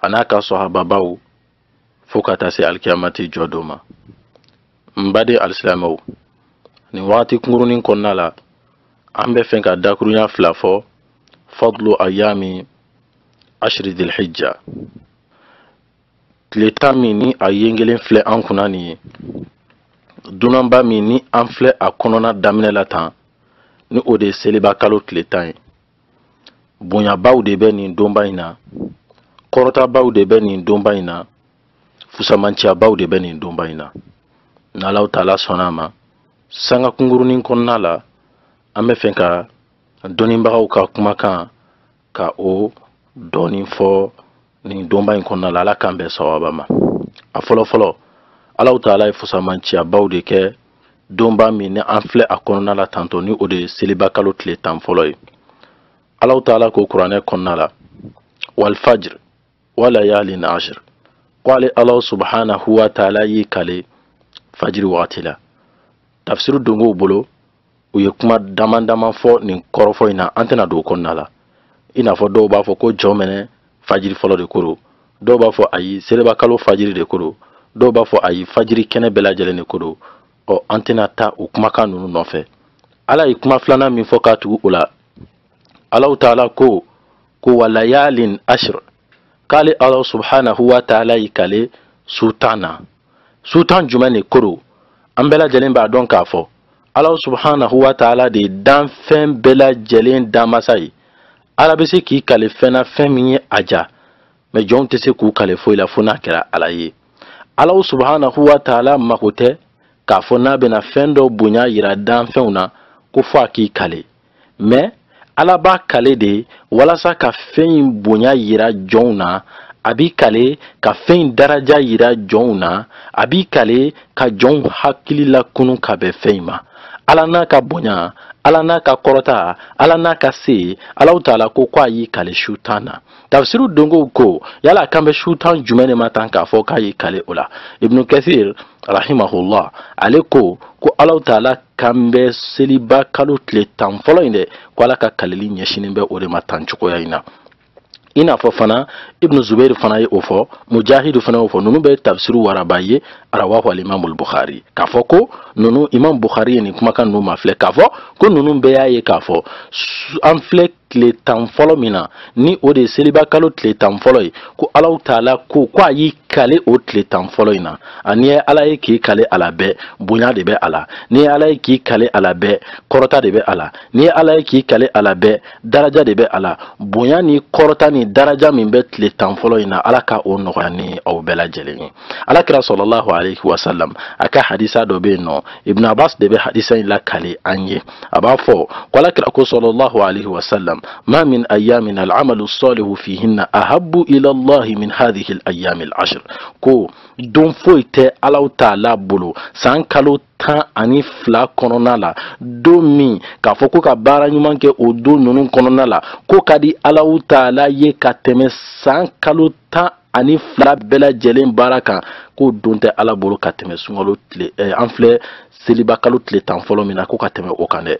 a n'a ka sɔhababaw fo ka taa se alikiyamati jɔ don ma n baden alisilamɛw nin wagati kunkurunin kɔnɔna la an bɛ fɛ ka dakurunya fila fɔ fadlu ayami ashiri dilhijja tile tan min ni a yengelen filɛ an kunna nin ye dunanba min ni an filɛ a kɔnɔna daminɛ la tan ni o de ye seliba kalo tile tan ye bonyabaw de bɛ nin donba in na kɔrɔtabaw de bɛ nin donba in na fusamanciyabaw de bɛ nin donba in na n'alahu taala sɔnna a ma sanga kungurunin kɔnɔna la an bɛ fɛ ka dɔnnibagaw ka kumakan ka o dɔɔnin fɔ nin donba in kɔnɔna la ala k'an bɛn sawaba ma a fɔlɔ fɔlɔ alahu taala ye fusamanciyabaw de kɛ donba min ni an filɛ a kɔnɔna la tantɔ ni o de ye seliba kalo tile tan fɔlɔ ye alahu taala ko kuranɛ kɔnɔna la walfajir walayalin ashir ko ale alahu subhanahu wa taala y'i kale fajiri wagati la tafsiri donkow bolo u ye kuma damadama fɔ nin kɔrɔfɔ in na an tɛna don o kɔnɔna la i n'a fɔ dɔw b'a fɔ ko jɔnminɛ fajiri fɔlɔ de ko don dɔw b'a fɔ ayi seliba kalo fajiri de ko don dɔw b'a fɔ ayi fajiri kɛnɛ bɛɛ lajɛlen de ko don ɔ an tɛna taa o kumakan ninnu nɔfɛ ala ye kuma filanan min fɔ k'a tugu o la alahu taala ko ko walayalin ashir k'ale ala subhanahu wa taala y'i kale su tan na su tan jumɛn de ko don an bɛɛ lajɛlen b'a dɔn k'a fɔ ala subhanahu wa taala de ye danfɛn bɛɛ lajɛlen danmasa ye ala bɛ se k'i kale fɛn na fɛn min ye a diya mais jɔnw tɛ se k'u kale foyi la fo n'a kɛra ala ye ala subhanahu wa taala mako tɛ k'a fɔ n'a bɛna fɛn dɔ bonya yira danfɛnw na ko fo a k'i kale mais ala b'a kale de walasa ka fɛn in bonya yira jɔnw na a b'i kale ka fɛn in daraja yira jɔnw na a b'i kale ka jɔnw hakili lakunun ka bɛn fɛn in ma ala n'a ka bonya ala n'a ka kɔrɔta ala n'a ka se alahu taala ko ko a y'i kale su tan na tafsiri donkow ko yala a kan bɛ su tan jumɛn de ma tan k'a fɔ k'a y'i kale o la ibnu kasir rahimahullah ale ko ko alahu taala kan bɛ seliba kalo tile tan fɔlɔ in de ko ala ka kaleli ɲɛsinnen bɛ o de ma tan cogoya in na i n'a fɔ fana ibnu zubair fana ye o fɔ mujahidu fana y'o fɔ ninnu bɛɛ ye tafsiru waraba ye rawahu alimamul bukhari k'a fɔ ko ninnu imam bukhari ye nin kumakan ninnu mafilɛ k'a fɔ ko ninnu bɛɛ y'a ye k'a fɔ an filɛ tile tan fɔlɔ min na ni o de seliba kalo tile tan fɔlɔ ye ko allahu taala ko ko a y'i kale o tile tan fɔlɔ in na a n'i ye ala ye k'i kale a la bɛɛ bonya de bɛ a la n'i ye ala ye k'i kale a la bɛɛ kɔrɔta de bɛ a la n'i ye ala ye k'i kale a la bɛɛ daraja de bɛ a la bonya ni kɔrɔta ni daraja min bɛ tile tan fɔlɔ in na ala ka o nɔgɔya ni aw bɛɛ lajɛlen ye alakira sallallahu alayhi wa sallam a ka hadisa dɔ bɛ yen n'o ibn abbas de bɛ hadisa in lakali an ye a b'a fɔ ko alakira ko sallallahu alayhi wa sallam ma min ayamin al'amalu salihu fihinna ahabu ila allahi min hadhihi al-ayami al-ashr ko don foyi tɛ allahu taala bolo san kalo tan ani fila kɔnɔna la don min k'a fɔ ko ka baara ɲuman kɛ o don ninnu kɔnɔna la k'o ka di allahu taala ye ka tɛmɛ san kalo tan ani fila bɛɛ lajɛlen baara kan k'o don tɛ ala bolo ka tɛmɛ sunkalo tile eh, an filɛ seliba kalo tile tan fɔlɔ min na ko ka tɛmɛ o kan dɛ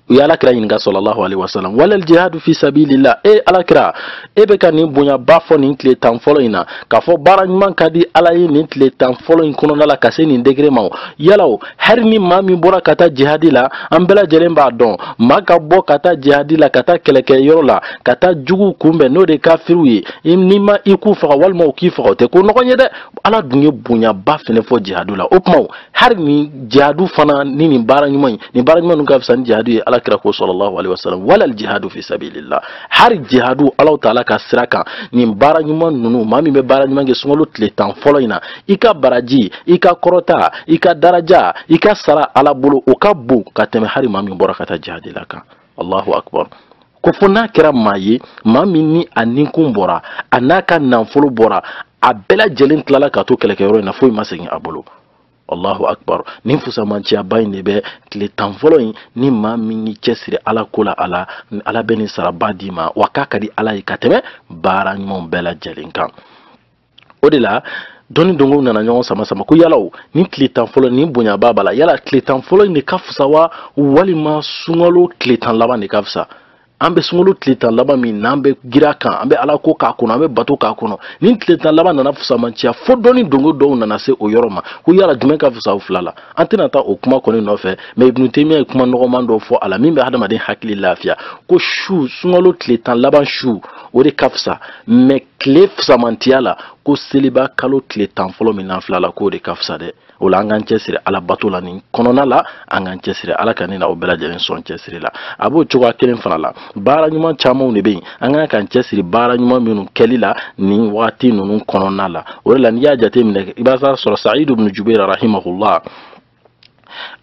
u ye alakira ɲininka sallallahu alaihi wasalam walal jihadu fi sabilillah e alakira e bɛ ka nin bonyaba fɔ nin tile tan fɔlɔ in na k'a fɔ baara ɲuman ka di ala ye nin tile tan fɔlɔ in kɔnɔna la ka se nin degré ma o yala o hali ni maa min bɔra ka taa jihadi la an bɛɛ lajɛlen b'a dɔn maa ka bɔ ka taa jihadi la ka taa kɛlɛkɛ yɔrɔ la ka taa juguw kunbɛn n'o de kafiriw ye n'i ma i k'u faga walima u k'i faga o tɛ ko nɔgɔn ye dɛ ala dun ye bonyaba fɛnɛ fɔ jihadu la o tuma hali ni jihadu fana nin baara ɲuman ninnu ka fisa ni jihadu ye alakira ko sallallahu alaihi wasallam walal jihadu fi sabilillah hali jihadu allahu taala ka sira kan nin baara ɲuman ninnu maa min bɛ baara ɲuman kɛ sunkalo tile tan fɔlɔ in na i ka baraji i ka kɔrɔta i ka daraja i ka sara ala bolo o ka bon ka tɛmɛ hali maa min bɔra ka taa jihadi la kan allahu akbar ko fo n'a kɛra maa ye maa min ni a ninkun bɔra a n'a ka nanfolo bɔra a bɛɛ lajɛlen tilala ka to kɛlɛkɛyɔrɔ in na foyi ma segin a bolo allahu akbar nin fusamanciyaba in de bɛ tile tan fɔlɔ in ni maa min y'i cɛsiri ala ko la ala bɛ nin saraba d'i ma wa k'a ka di ala ye ka tɛmɛ baara ɲumanw bɛɛ lajɛlen kan o de la dɔnni donko nana ɲɔgɔn sama sama ko yala o ni tile tan fɔlɔ ni bonyaba b'a la yala tile tan fɔlɔ in de ka fisa wa walima sunkalo tile tan laban de ka fisa an bɛ sunkalo tile tan laban min n'an bɛ girin a kan an bɛ ala ko k'a kɔnɔ an bɛ bato k'a kɔnɔ ni tile tan laban nana fusamanciya fo dɔnni donko dɔw nana se o yɔrɔ ma ko yala jumɛn ka fisa o fila la an tɛna taa o kuma kɔni nɔfɛ mais ibn taymiya ye kuma nɔgɔman dɔ fɔ a la min bɛ hadamaden hakili lafiya ko su sunkalo tile tan laban su o de ka fisa mais tile fisamantiya la ko seliba kalo tile tan fɔlɔ min n'an fil'a la k'o de ka fisa dɛ o la an k'an cɛsiri ala bato la nin kɔnɔna la an k'an cɛsiri ala ka ne n'aw bɛɛ lajɛlen sɔn cɛsiri la a b'o cogoya kelen fana la baara ɲuman camanw de bɛ yen an ka kan k'an cɛsiri baara ɲuman minnu kɛli la nin waati ninnu kɔnɔna la o de la n'i y'a jateminɛ i b'a sɔrɔ sayidu bin jubeir rahimahullah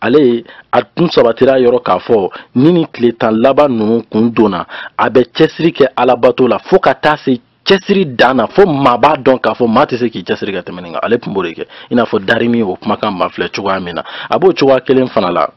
ale ye a tun sabatira yɔrɔ k'a fɔ ni nin tile tan laban ninnu kun donna a bɛ cɛsiri kɛ alabato la fo ka taa se cɛsiri dan na fo maa b'a dɔn k'a fɔ maa tɛ se k'i cɛsiri ka tɛmɛ nin kan ale tun b'o de kɛ i n'a fɔ darimi y'o kumakan mafilɛ cogoya min na a b'o cogoya kelen fana la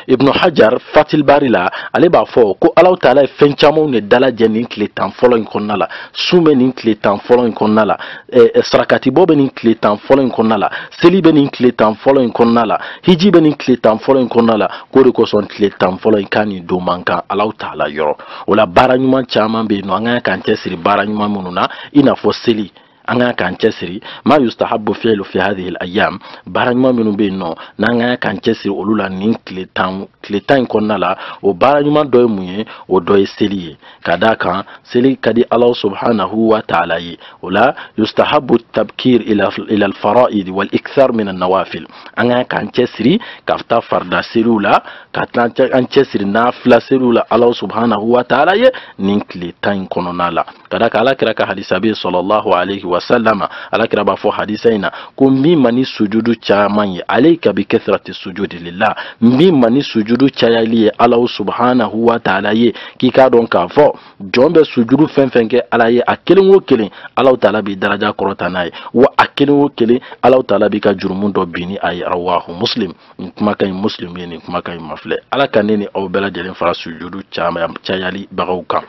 ibnu hajar fathul bari la ale b'a fɔ ko alahu taala ye fɛn camanw de dalajɛ nin tile tan fɔlɔ in kɔnɔna la sun bɛ nin tile tan fɔlɔ in kɔnɔna la eh, eh, sarakatibɔ bɛ nin tile tan fɔlɔ in kɔnɔna la seli bɛ nin tile tan fɔlɔ in kɔnɔna la hiji bɛ nin tile tan fɔlɔ in kɔnɔna la k'o de kosɔn tile tan fɔlɔ in k'a ni don man kan alahu taala yɔrɔ o la baara ɲuman caman bɛ yen nɔ an ka kan k'an cɛsiri baara ɲuman minnu na i n'a fɔ seli an ka kan k'an cɛsiri ma yustahabu fi'lu fi hadhihi al-ayyam baara ɲuman minnu bɛ yen nɔ n'an ka kan k'an cɛsiri olu la nin tile tan in kɔnɔna la o baara ɲuman dɔ ye mun ye o dɔ ye seli ye ka d'a kan seli ka di Ala subhanahu wa ta'ala ye o la yustahabu tabkir ila al-fara'id wal ikthar min an-nawafil an ka kan k'an cɛsiri ka taa farida seliw la ka taa an cɛsiri nafila seliw la Ala subhanahu wa ta'ala ye nin tile tan in kɔnɔna la ka d'a kan alakira ka hadisa bɛ salalahu alayhi wa salama alakira b'a fɔ hadisa in na ko min ma ni sujudu caman ye alayka bi kasrati sujudi lillah min ma ni sujudu cayali ye ala subhanahu wa taala ye k'i k'a dɔn k'a fɔ jɔn bɛ sujudu fɛn fɛn kɛ ala ye a kelen o kelen ala taala b'i daraja kɔrɔta n'a ye wa a kelen o kelen ala taala b'i ka jurumu dɔ bin n'a ye rawahu muslim nin kumakan in muslim ye nin kumakan in mafilɛ ala ka ne ni aw bɛɛ lajɛlen fara sujudu cayalibagaw kan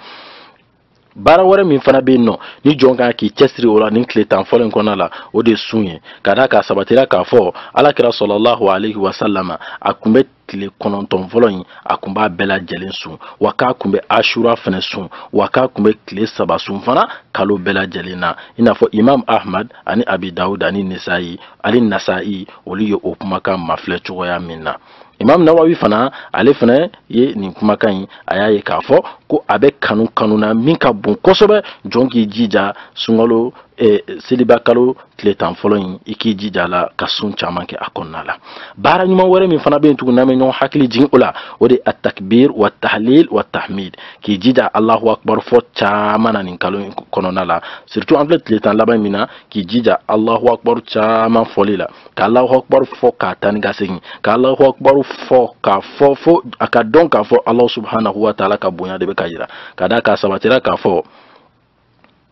baara wɛrɛ min fana bɛ yen nɔ ni jɔn ka kan k'i cɛsiri o la nin tile tan fɔlɔ in kɔnɔna la o de sun ye ka d'a kan a sabatira k'a fɔ ala kira salalahu alayhi wa salama a kun bɛ tile kɔnɔntɔn fɔlɔ in a kun b'a bɛɛ lajɛlen sun wa k'a kun bɛ ashura fana sun wa k'a kun bɛ tile saba sun fana kalo bɛɛ lajɛlen na i n'a fɔ imam ahmad ani abi dawud ani nisayi ani nasayi olu ye o kumakan mafilɛ cogoya min na imam nawawi fana ale fana ye nin kumakan in a y'a ye k'a fɔ ko a bɛ kanu kanu na min ka bon kosɛbɛ jɔn k'i jija sunkalo eh, seliba kalo tile tan fɔlɔ in i k'i jija la ka sun caman kɛ a kɔnɔna la baara ɲuman wɛrɛ min fana bɛ yen tuguni n'an bɛ ɲɔgɔn hakili jigin o la o de atakbir wa tahlil wa tahmid k'i jija alahu akbar fɔ caman na nin kalo in kɔnɔna la surtout an filɛ tile tan laban min na k'i jija alahu akbar caman fɔli la ka alahu akibaru fɔ ka taa ni ka segin ka alahu akibaru fɔ k'a fɔ fo a ka dɔn k'a fɔ alahu subhanahu wa taala ka bonya de bɛ ka yira ka d'a kan a sabatira k'a fɔ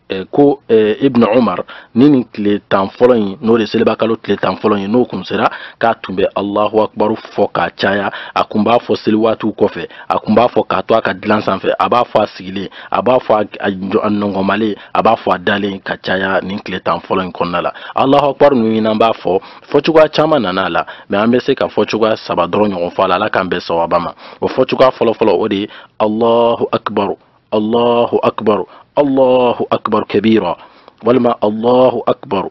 Eh, ko eh, ibn umar ni nin tile tan fɔlɔ in n'o de seliba kalo tile tan fɔlɔ in n'o kun sera k'a tun bɛ alahu akibaru fɔ k'a caya a kun b'a fɔ seli waatiw kɔfɛ a kun b'a fɔ k'a to a ka dilan sanfɛ a b'a fɔ a sigilen a b'a fɔ a nɔnkɔnmalen a b'a fɔ a dalen ka caya nin tile tan fɔlɔ in kɔnɔna la alahu akbar ninnu in n'an b'a fɔ fɔcogoya caman nana a la mɛ an bɛ se ka fɔcogoya saba dɔrɔn ɲɔgɔn fɔ a la ala k'an bɛn sawaba ma o fɔcogoya fɔlɔfɔlɔ o de ye alahu akbar alahu akbar alahu akbar kabira walima alahu akbar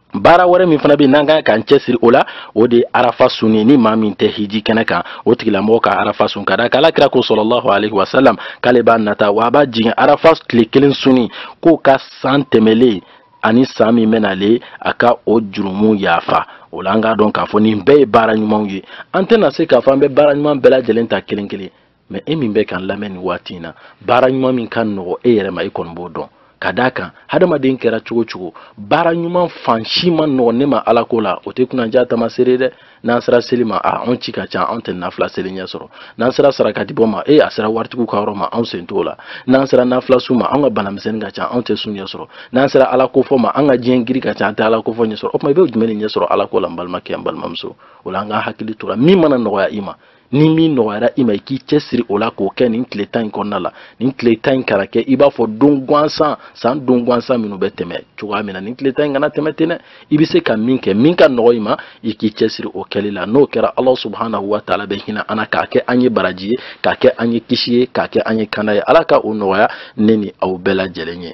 baara wɛrɛ min fana bɛ n'an kan k'an cɛsiri o la o de ye arafa sun ye ni maa min tɛ hiji kɛnɛ kan o tigilamɔgɔ ka arafa sun ka d'a kan alakira ko sallallahu alaihi wasalam k'ale b'a nata wa a b'a jigi arafa tile kelen sunni k'o ka san tɛmɛlen ani san min bɛ nalen a ka o jurumu yafa o la an k'a dɔn k'a fɔ nin bɛɛ ye baara ɲumanw ye an tɛna se k'a fɔ an bɛ baara ɲuman bɛɛ lajɛlen ta kelen kelen mɛ e min bɛ k'an lamɛn nin waati in na baara ɲuman min ka nɔgɔ e yɛrɛ ma e kɔni b'o dɔn ka d'a kan hadamaden kɛra cogo o cogo baara ɲuman fan si man nɔgɔ ne ma ala ko la o tɛ kunnaja tamasere dɛ n'an sera seli ma a anw ci ka ca anw tɛ nafila seli ɲɛ sɔrɔ n'an sera sarakati bɔ ma e a sera waritigiw ka yɔrɔ ma anw sen t'o la n'an sera nafila sun ma an ka banamisɛnnin ka ca anw tɛ sun ɲɛ sɔrɔ n'an sera ala kofɔ ma an ka diɲɛ giri ka ca an tɛ ala kofɔ ɲɛ sɔrɔ o tuma i bɛ jumɛn de ɲɛ sɔrɔ ala ko la n balimakɛ n balimamuso o la an k'an hakili to a la min mana nɔgɔya i ma ni min nɔgɔyara i ma i k'i cɛsiri o la k'o kɛ nin tile tan in kɔnɔna la nin tile tan in kana kɛ i b'a fɔ don gansan san don gansan minnu bɛ tɛmɛ cogoya min na nin tile tan in kana tɛmɛ ten dɛ i bɛ se ka min kɛ min ka nɔgɔ i ma i k'i cɛsiri o kɛli la n'o kɛra ala subahanahu wa taala bɛ hinɛ an na k'a kɛ an ye baraji ye k'a kɛ an ye kisi ye k'a kɛ an ye kanda ye ala ka o nɔgɔya ne ni aw bɛɛ lajɛlen ye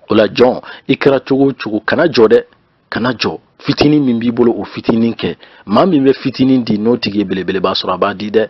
o la jɔn i kɛra cogo o cogo kana jɔ dɛ kana jɔ fitinin min b'i bolo o fitinin kɛ maa min bɛ fitinin di n'o tigi ye belebeleba sɔrɔ a b'a di dɛ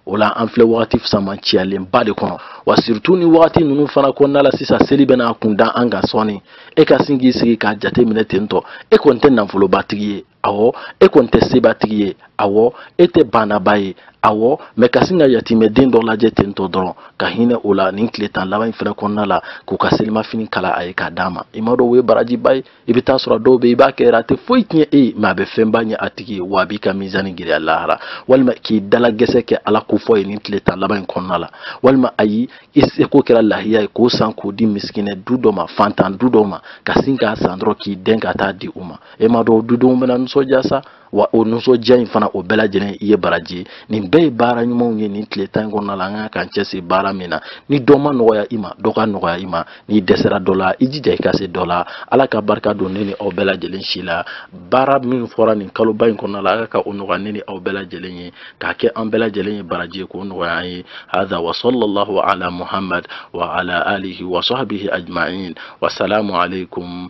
o la an filɛ wagati fisamanciyalenba de kɔnɔ wa siritu nin wagati ninnu fana kɔnɔna la sisan seli bɛna a kun da an kan sɔɔni e ka sin k'i sigi k'a jate minɛ ten tɔ e kɔni tɛ nafolobatigi ye awɔ e kɔni tɛ sebatigi ye awɔ e tɛ baanaba ye awɔ mɛ ka sin ka yatimɛden dɔ lajɛ ten tɔ dɔrɔn ka hinɛ o la nin tile tan laban in fana kɔnɔna la k'o ka selimafini kala a ye k'a d'a ma i m'a dɔn o ye barajiba ye i bɛ taa sɔrɔ dɔw bɛ i b'a kɛ a tɛ foyi tiɲɛ e ye mɛ a bɛ fɛnba ɲɛ a tigi ye wa a b'i ka mizani giriya lahara walima k'i dalagɛsɛ kɛ ala ko fɔ ye nin tile tan laban in kɔnɔna la walima ayi i seko kɛra lahiya ye k'o san k'o di misikinɛ du dɔ ma fantan du dɔ ma ka sin k'a san dɔrɔn k'i dɛn ka taa a di u ma e m'a dɔn o dudenw bɛna nisɔndiya sa wa o nisɔndiya in fana o bɛɛ lajɛlen i ye baraji ye nin bɛɛ ye baara ɲumanw ye nin tile tan in kɔnɔna la an kan k'an cɛsiri baara min na ni dɔ ma nɔgɔya i ma dɔ ka nɔgɔya i ma n'i dɛsɛra dɔ la i jija i ka se dɔ la ala ka barika don ne ni aw bɛɛ lajɛlen si la baara min fɔra nin kaloba in kɔnɔna la ala ka o nɔgɔya ne ni aw bɛɛ lajɛlen ye k'a kɛ an bɛɛ lajɛlen ye baraji ye k'o nɔgɔya an ye hada wa sallallahu ala muhammad wa ala alihi wa sahbihi ajma'in wa salamu alaikum